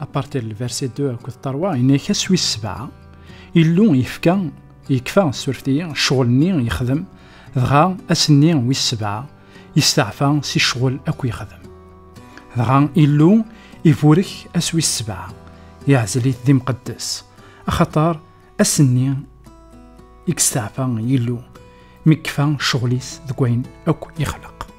Apartir lversi 2 akked tarwa, yenna-k aswi sebɛa, Illu yefka, yekfa surfti, ccɣel-nni yexdem, dɣa ass-nni wis sebɛa, yesteɛfa si ccɣel akk yexdem. Dɣa Illu iburek aswi sebɛa, yeɛzel-it d imqeddes, axaṭer ass-nni i yesteɛfa Illu, mi yekfa ccɣel-is deg wayen akk yexleq.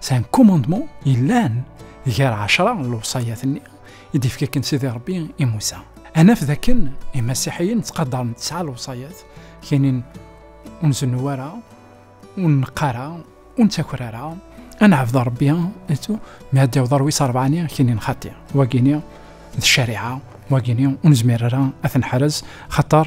C'est un commandement ilan gar ɛecra n lewṣayat-nni i d-ifka akken Sidi Rebbi i Musa. Ad naf dakken imasiḥiyen ttqadaren tesɛa lewṣayat, kanin ur nzennu ara, ur neqqar ara, ur nettaker ara, ad neɛbed Rebbi, mi ad d-yaweḍ ɣer wis rebɛani, kanin xaṭi, wagini d ccariɛa, wagini ur nezmir ara ad ten-ḥrez, xaṭer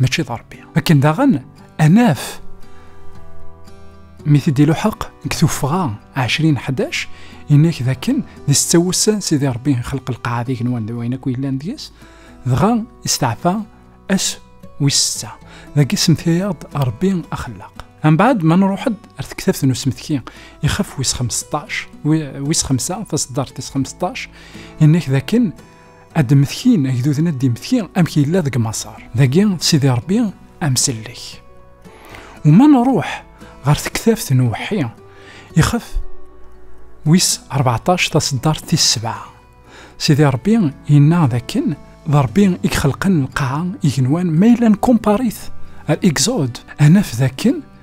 mačči d Ṛebbi. Akken daɣen anaf mi t-id iluḥeq deg tuffɣa 20 11 inak d akken d setta wussan sidi Ṛebbi xelq lqaɛa d igenwan d wayen akk yellan deg-s dɣa isteɛfa ass wis setta dagi semtayaɣ-d Ṛebbi axellaq. Mbaɛd ma nruḥ-d ar tektabt n usmetki ixef wis 15 wis 5 taseddart tis 15 inak d akken ad d-metkin agduden ad d-imetki amek yella deg Maṣer. Dagi d Sidi Rebbi amsellek. U ma nruḥ ɣer tektabt n uweḥḥi, ixef wis 14 taseddart tis sebɛa, Sidi Rebbi yenna d akken d Rebbi i ixelqen lqaɛa, igenwan, ma yella nkumpaṛ-it ar Exode, ad naf d akken,